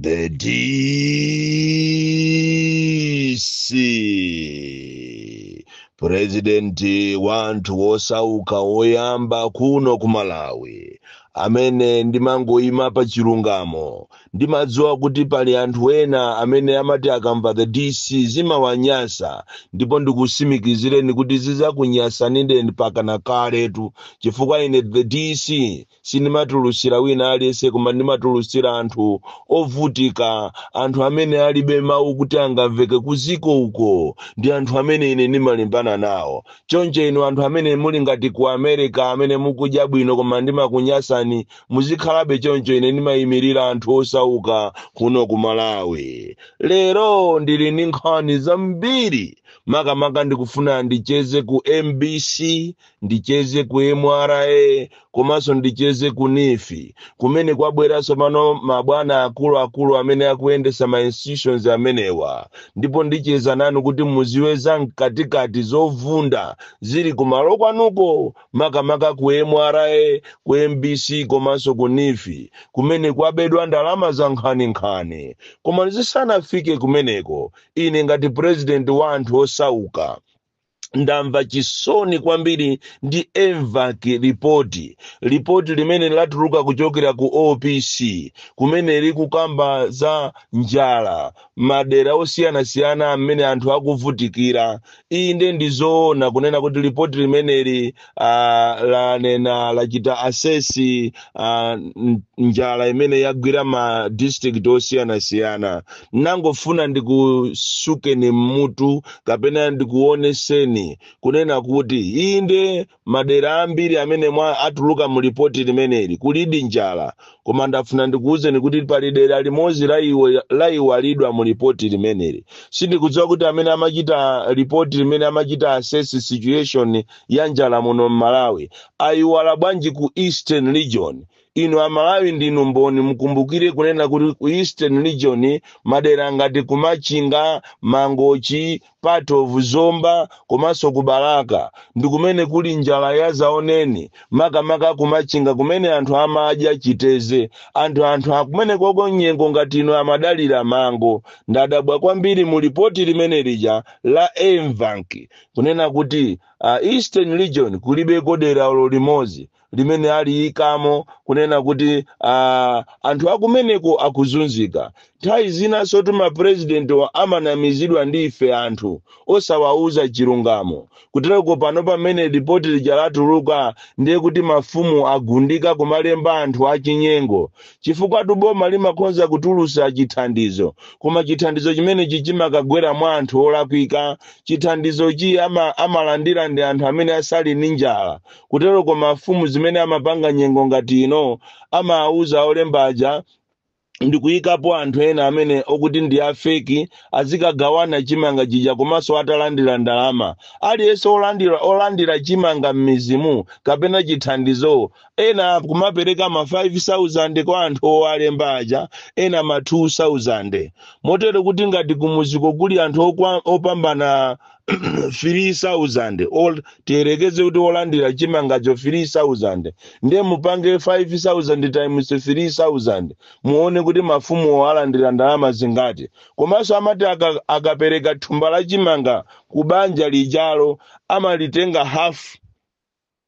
The DC purezidenti wa anthu wosauka woyamba kuno ku malawi amene ndimangoyima pa chilungamo ndimadziwa kuti pali anthu ena amene amati akamva the dc zimawanyasa ndipo ndikusimikizireni kuti zizakunyasanireni mpaka kaletu chifukwa ine the dc sindimatulutsira wina aliyense koma ndimatulutsira anthu ovutika anthu amene alibe mawu kuti angamveke kuziko uko ndi anthu amene ine ndimalimbana nawo choncho inu anthu amene muli ngati ku america amene mukudya bwino koma ndimakunyasani muzikhalabe choncho ine ndimayimirira anthu osauka kuno ku malawi lero ndili ndi nkhani zambiri makamaka ndikufuna ndicheze ku mbc ndicheze ku mra komanso ndicheze ku NEEF kumene kwabwera tsopano mabwana akuluakulu amene akuyendesa ma institutions amenewa ndipo ndicheza nanu kuti muziwe za mkatikati zovunda zili kumalo kwanuko makamaka ku mra ku mbc komanso ku NEEF kumene kwabedwa ndalama za nkhaninkhani koma ndisanafike kumeneko ine ngati president wa anthu osauka ndamva chisoni kwambiri ndi MVAC lipoti lipoti limene latuluka kuchokera ku opc kumene likukamba za njala madera osiyanasiyana amene anthu akuvutikira inde ndizoona kunena kuti lipoti limeneli ah, lanena lachita assess ah, n- njala imene yagwira ma district osiyanasiyana nangofuna ndikusukeni mmutu kapena ndikuoneseni kunena kuti inde madera ambiri amene mwa atuluka mu lipoti limeneli kulidi njala koma ndafuna ndikuwuzeni kuti pali dera limodzi la iwe- laiwalidwa mu lipoti limeneli sindikudziwa kuti amene amachita lipoti limene amachita assess situation ya njala muno m'malawi ayiwala bwanji ku eastern region inu amalawi ndinu mboni mukumbukire kunena kuti ku eastern region madera ngati kumachinga mangochi part of Zomba komanso ku Balaka ndikumene kuli njala yazaoneni makamaka ku Machinga kumene anthu amadya chiteze and anthu akumenekoko nyengo ngati ino amadalira mango. Ndadabwa kwambiri mu report limene lija la MVAC kunena kuti a Eastern region kulibeko dera olo limodzi. limene aliyikamo kunena kuti ah, anthu akumeneko akuzunzika nthawi zinansotu mapurezidentiwo amanamizidwa ndi ife anthu osawauza chilungamo kutereko pano pamene lipoti lija latuluka ndiye kuti mafumu agundika kumalemba anthu achinyengo chifukwatu boma limakhonza kutulusa chithandizo koma chithandizo chimenechi chimakagwera mwa anthu olakwika chithandizochi ama, amalandira ndi anthu amene asali ndi njala kuteroko mafumu zimene amapanga nyengo ngati ino amawuza olemba aja ndikuyikapo anthu ena amene okuti ndi afeki azikagawana chimanga chija komanso atalandira ndalama aliyense olandira chimanga m'mizimo kapena chithandizo ena kumapereka ma 5000 kwa anthu owalemba aja ena ma 2000 motero kuti ngati kumuziko kuli anthu okwa- opambana 3000 tiyerekeze kuti wolandira chimangacho 3000 ndiye mupange 5000 times 3000 muone kuti mafumuwo alandira ndalama zingati komanso amati aka- akapereka thumba la chimanga ku banja lijalo amalitenga hafu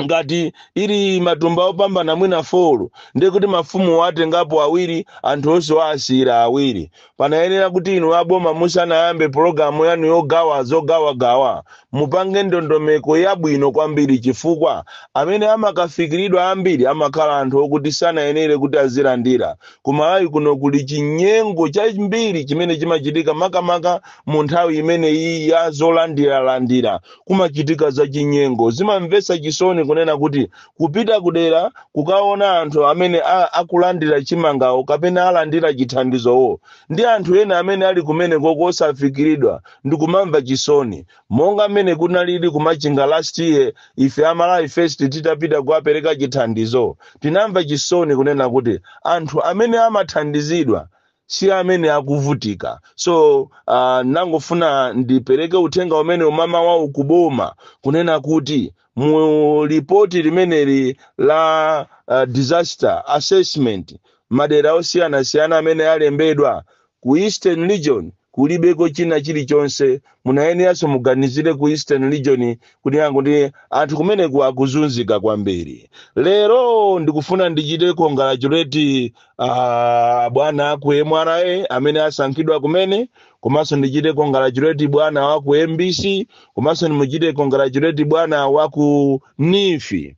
ngati ili matumba opambana mwina folo ndiye kuti mafumu watengapo awiri anthu onse waasiyira awiri panayenera kuti inu aboma musanayambe pologalamu yanu yogawa zogawagawa mupange ndondomeko yabwino kwambiri chifukwa amene amakafikiridwa ambiri amakhala anthu okuti sanayenere kuti azilandira ku malawi kuno kuli chinyengo chambiri chimene chimachitika makamaka mu nthawi imeneyi ya zolandiralandira kumachitika zachinyengo zimamvetsa chisoni kunena kuti kupita kudera kukaona anthu amene a- akulandira chimangawo kapena alandira chithandizowo ndi anthu ena amene ali kumeneko kosafikiridwa ndikumamva chisoni monga mmene kunalili kumachinga last year ife a malawi first titapita kuwapereka chithandizo tinamva chisoni kunena kuti anthu amene amathandizidwa si amene akuvutika so uh, nangofuna ndipereke uthenga umene umamawawu kuboma kunena kuti mu lipoti limeneli la uh, disaster assessment madera osiyanasiyana amene alembedwa ku eastern region kulibeko china chilichonse munayeneranso muganizire ku eastern region kunena kuti anthu kumeneko akuzunzika kwambiri lero ndikufuna ndichite congratulate uh, bwana aku mra amene asankhidwa kumene komanso ndichite congratulate bwana waku mbc komanso ndimuchite congratulate bwana waku nifi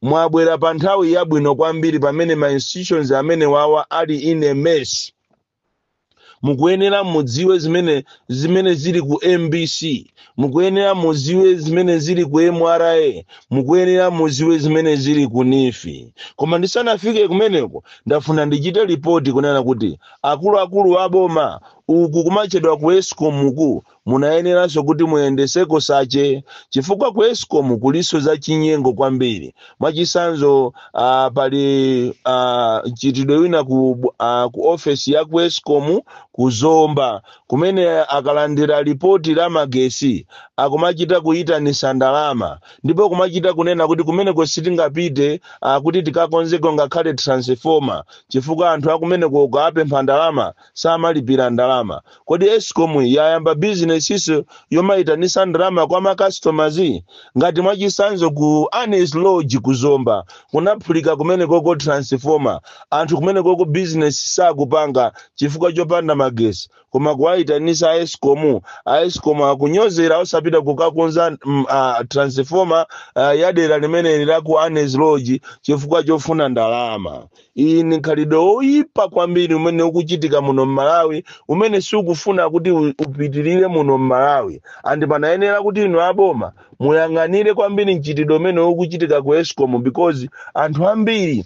mwabwera pa nthawi yabwino kwambiri pamene ma institutions amenewawa ali in a mess mukuyenera mudziwe zimene zimene zili ku mbc mukuyenera mudziwe zimene zili ku mra mukuyenera mudziwe zimene zili ku nifi koma ndisanafike kumeneko ndafuna ndichite report kunena kuti akuluakulu aboma uku kumachedwa ku escom uku Munayeneranso kuti muyendeseko sache chifukwa ku escom kuliso za chinyengo kwambiri mwachisanzo uh, pali uh, mchitidwe wina ku, uh, ku ofesi ya ku escom ku zomba kumene akalandira report la magesi akumachita kuyitanisa ndalama ndipo kumachita kunena kuti kumeneko sitingapite uh, kuti tikakonzeko ngakhale transformer chifukwa anthu akumeneko ukawapempha ndalama samalipira ndalama kodi escom yayamba businessso yomaitanisa ndalama kwa macustomers ngati mwachisanzo ku anis lodge ku zomba kunaphulika kumenekoko transformer anthu kumenekoko business sakupanga chifukwa chopanda magesi koma kuwaitanisa aescom aescom akunyozera osapita kukakonza mm, ah, transformer ah, ya dera limene la ku anis lodge chifukwa chofuna ndalama iyi ni khalidwe woyipa kwambiri umene ukuchitika muno mmalawi umene siukufuna kuti u- upitirire muno mmalawi andi panayenera kuti inu aboma muyang'anire kwambiri mchitidwe umene ukuchitika ku escom because anthu ambiri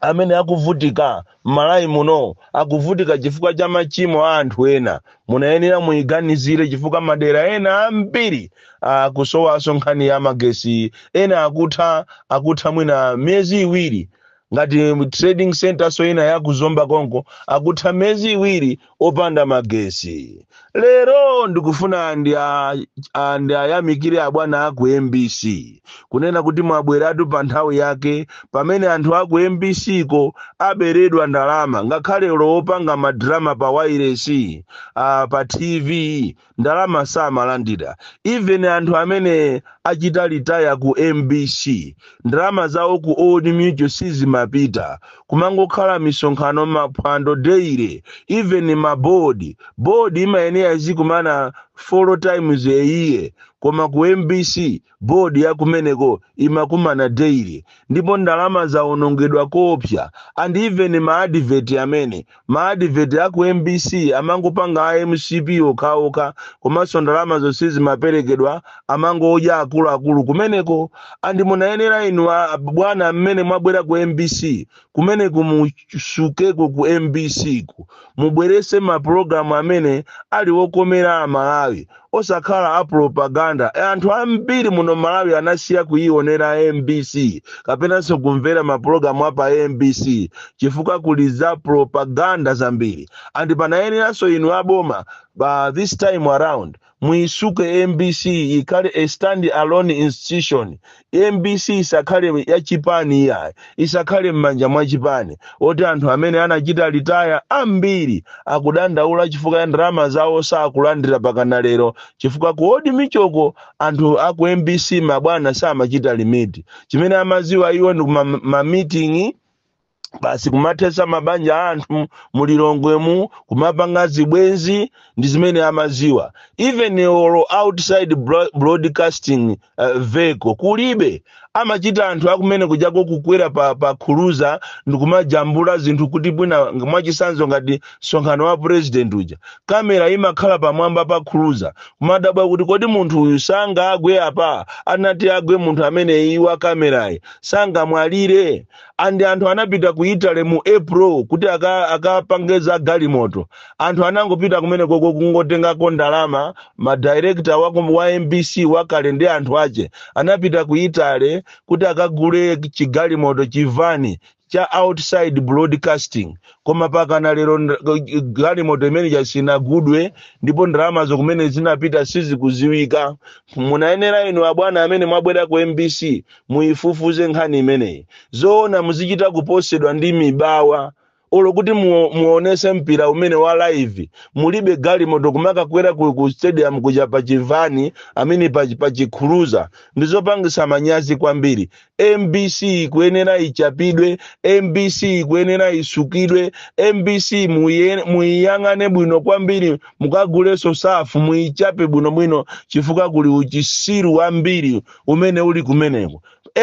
amene akuvutika mmalawi muno akuvutika chifukwa cha machimo a anthu ena munayenera muyiganizire chifukwa madera ena ambiri akusowanso nkhani ya magesi ena akutha akutha mwina miyezi iwiri ngati trading center nso ina ya ku zomba konko akutha miyezi iwiri opanda magesi lero ndikufuna ndi a- a- ndi ayamikire abwana aku mbc kunena kuti mwabweratu pa nthawi yake pamene anthu aku mbc ko aberedwa ndalama ngakhale awo opanga madrama pa wairesi uh, pa tv ndalama samalandira even anthu amene achita retire ku mbc ndalama zawo ku old mutual sizimapita kumangokhala misonkhano maphwando daily even ma board board imayenera izikumana four times a year koma ku mbc Board ya kumeneko imakumana daily ndipo ndalama zawonongedwa koopsa and even ma advert amene, ma advert a ku mbc amangopanga a mcp okhaokha komanso ndalamazo sizimaperekedwa amangodya akuluakulu kumeneko and munayenera inu a bwana mmene mwabwera ku mbc kumeneko musukeko ku mbc ku mubweretse mapulogalamu amene ali wokomera Amalawi osakhala a propaganda E, anthu ambiri muno malawi anasiya kuionera mbc kapenanso kumvera mapulogalamu a pa mbc chifukwa kuli za propaganda zambiri and munayeneranso inu aboma uh, this time around Muisuke mbc ikhale a stand alone institution. Mbc isakhale ya chipani iyayi. Isakhale m'manja mwa chipani. Oti anthu amene anachita retire ambiri akudandaula chifukwa ya ndalama zawo sakulandira pakana lero chifukwa ku old mutual-ko anthu a ku mbc mabwana samachita remit. Chimene amadziwa iwo ndi ku ma meeting basi kumathetsa mabanja a anthu mulilongwemu kumapanga zibwenzi ndi zimene amaziwa even olo outside bro- broadcasting uh, vehicle kulibe amachita anthu akumene kujako kukwera pa, pa cruiser ndikumajambula zinthu kuti mwina ng- mwachisanzo ngati msonkhano wa president uja kamera imakhala pamwamba pa cruiser kumadabwa kuti kodi munthu uyu sangagwe apa atati agwe munthu ameneyi wa kamerayi sangamwalire and anthu anapita ku italy mu april kuti aka- akapange za galimoto anthu anangopita kumeneko kungotengako ndalama madirekta wa, ku- wa mbc wakale ndi anthu ache anapita ku italy kuti akagule chigalimoto chivani cha outside broadcasting koma pakana lero nd- galimoto imeneyo sinagulidwe ndipo ndalamazo kumene zinapita sizikuziwika munayenera inu abwana amene mwabwera ku mbc muifufuze nkhani imeneyi zoona muzichita kuposedwa ndi mibawa olo kuti muo- muonese mpira umene wa live mulibe galimoto kumakakwera ku, ku stadium kuja pa chivani mmene pa, pa chi cruiser ndizopangisa manyazi kwambiri mbc ikuyenera ichapidwe mbc ikuyenera isukidwe mbc muiye- muiyang'ane bwino kwambiri mukaguleso surf muichape bwinobwino chifukwa kuli uchisiru wambiri umene uli kumeneko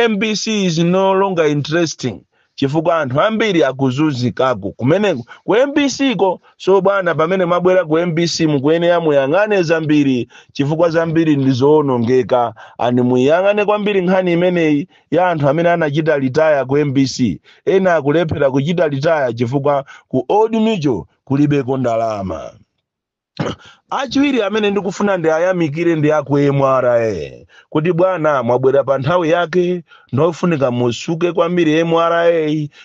mbc is no longer interesting chifukwa anthu ambiri akuzunzikako kumeneko ku mbc ko so bwana pamene mwabwera ku mbc mukuyenera muyang'ane zambiri chifukwa zambiri ndi zoonongeka and muyang'ane kwambiri nkhani imeneyi ya anthu amene anachita retire ku mbc ena akulephera kuchita retire chifukwa ku old mutual kulibeko ndalama achiwiri amene ndikufuna ndiwayamikire ndi aku mra kuti bwana mwabwera pa nthawi yake ndofunika musuke kwambiri mra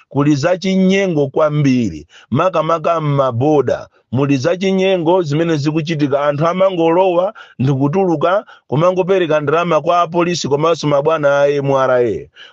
kuli zachinyengo kwambiri makamaka m'maboda muli zachinyengo zimene zikuchitika anthu amangolowa ndikutuluka kumangopereka ndalama kwa apolisi komanso mabwana a mra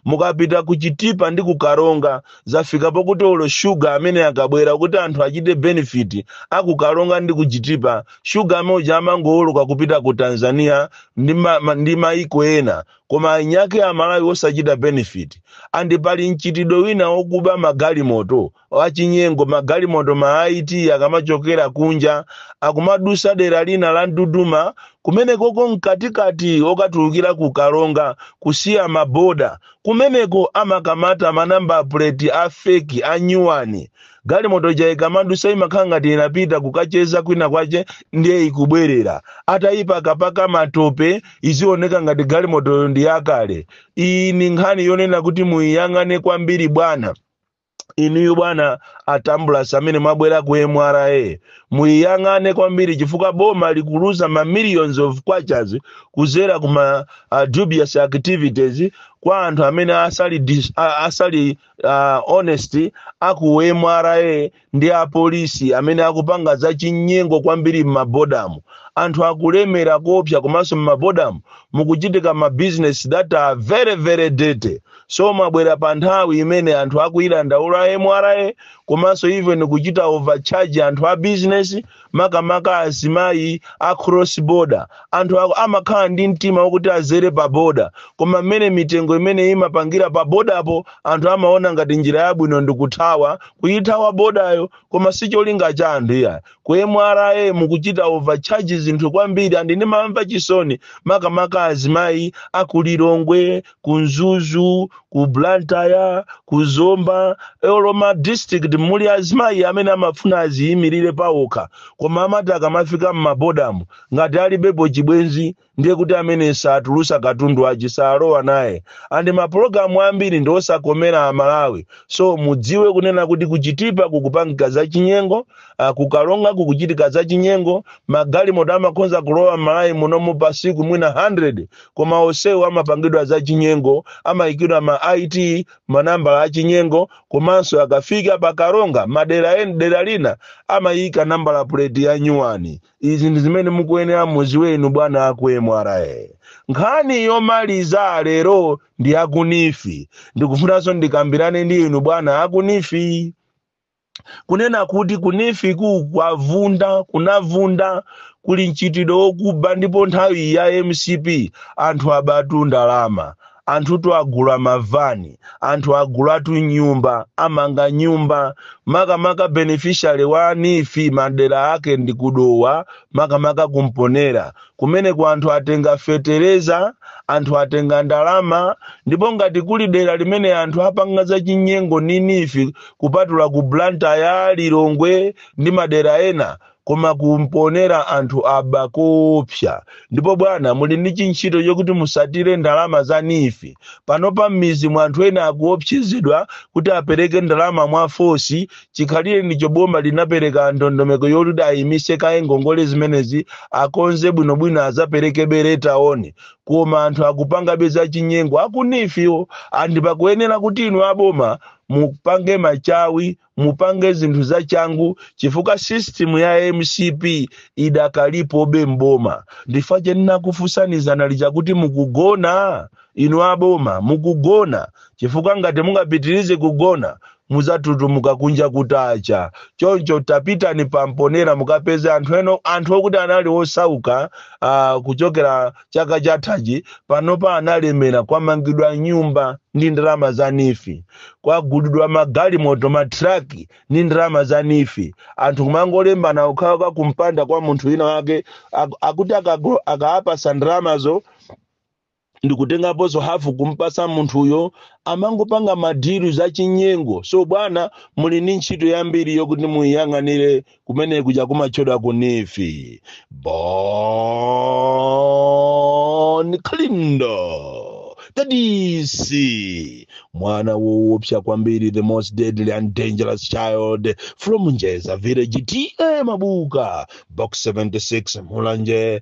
mukapita ku chitipa ndi ku karonga zafika pokuti olo sugar amene akabwera kuti anthu achite benefit aku karonga ndi ku chitipa sugar amene uja amangowoloka kupita ku tanzania ndi, ma, ma, ndi maiko ena koma eniake amalawi osachita benefit andi pali mchitidwe wina wokuba magalimoto achinyengo magalimoto ma it akamachokera kunja akumadusa dera lina la mduduma kumenekoko mkatikati okatulukira ku karonga kusiya maboda Kumeneko amakamata ma number plate a fake, a nyuwani. Galimoto ija ikamadusa imakhala ngati inapita kukacheza kwina kwache ndiye ikubwerera. Atayipakapaka matope izioneka ngati galimotoyo ndi yakale. Iyi ndi nkhani yonena kuti muyiyang'ane kwambiri bwana. inuyo bwana a tambulasi amene mwabwera ku mra muyiyang'ane kwambiri chifukwa boma likuluza ma millions of kwachas kuzera kuma uh, dubious activities kwa anthu amene asali, dis, a- asali uh, honest aku mra ndi apolisi amene akupanga za chinyengo kwambiri m'mabodamu anthu akulemera kopsa komanso m'mabodamu mukuchitika ma business that are very very dirty so mwabwera pa nthawi imene anthu akuyidandaula mra komanso even kuchita overcharge anthu a business makamaka azimayi a cross border anthu amakhala ndi mtima wokuti azere pa boda koma mmene mitengo imene imapangira pa bodapo anthu amaona ngati njira yabwino ndikuthawa kuyithawa bodayo koma si cholinga cha anthu iyayi ku mra mukuchita overcharge zinthu kwambiri andi ndimamva chisoni makamaka azimayi aku lilongwe ku mzuzu ku blantyre ku zomba olo ma district muli azimayi amene amafuna aziyimirire pawokha koma amati akamafika m'mabodamu ngati alibepo chibwenzi ndiye kuti amene satulusa katundu wache salowa naye andi mapulogalamu ambiri ndi osakomera amalawi so mudziwe kunena kuti ku chitipa kukupangika za chinyengo ah, ku karonga kukuchitika za chinyengo magalimoto amakhonza kulowa m'malawi munomu pasiku mwina 100 koma onsewo amapangidwa zachinyengo amayikidwa ma it manambala achinyengo komanso akafika pa karonga madera dera lina amayika nambala puleti ya nyuwani izi ndi zimene mukuyenera muziwe inu bwana aku mra nkhani yomaliza lero ndi aku neef ndikufunanso ndikambirane ndi inu bwana aku neef kunena kuti ku neefku kwavunda kunavunda kuli mchitidwe wokuba ndipo nthawi ya mcp anthu abatu ndalama anthutu agula mavani anthu agulatu nyumba amanga nyumba makamaka beneficiary wa neef madera ake ndi ku dowa makamaka ku mponela Kumeneko anthu atenga fetereza, anthu atenga ndalama, ndipo ngati kuli dera limene anthu apanga zachinyengo ndi NEEF kupatula ku Blantyre, Lilongwe ndi madera ena koma ku Mponela anthu aba koopsa. Ndipo bwana muli ndi chintchito chokuti musatire ndalama za NEEF. Panopa m'midzimu anthu ena akuopsezedwa kuti apereke ndalama mwa fosi chikhalirenicho boma linapereka ndondomeko yoti ayimise kaye ngongole zimenezi akonze bwinobwino azaperekebe later on koma anthu akupangabe zachinyengo a ku NEEF-wo and pakuyenera kuti inu aboma mupange machawi mupange zinthu zachangu chifukwa system ya mcp idakalipobe mboma ndi chifukwa chake ndinakuuzani dzana lija kuti mukugona inu aboma mukugona chifukwa ngati mungapitirize kugona mudzatutumuka kunja kutacha. Choncho tapitani pa Mponera mukapeze anthu ena anthu okuti anali osauka ah, kuchokera chaka chathachi panopa analemera kwamangidwa nyumba ndi ndalama za NEEF kwagulidwa magalimoto matraki ndi ndalama za NEEF anthu kumangolembana uku akuka kumpanda kwa munthu wina wake ak- akuti akago- akaapasa ndalamazo ndikutengaponso hafu kumpasa munthuyo amangopanga madilu za chinyengo so bwana muli ndi ntchito yambiri yokuti muyang'anire kumene kuja kumatchedwa ku NEEF Bon Kalindo the DC mwana woopsa kwambiri the most deadly and dangerous child from Njeza village TA Mabuka box 76 Mulanje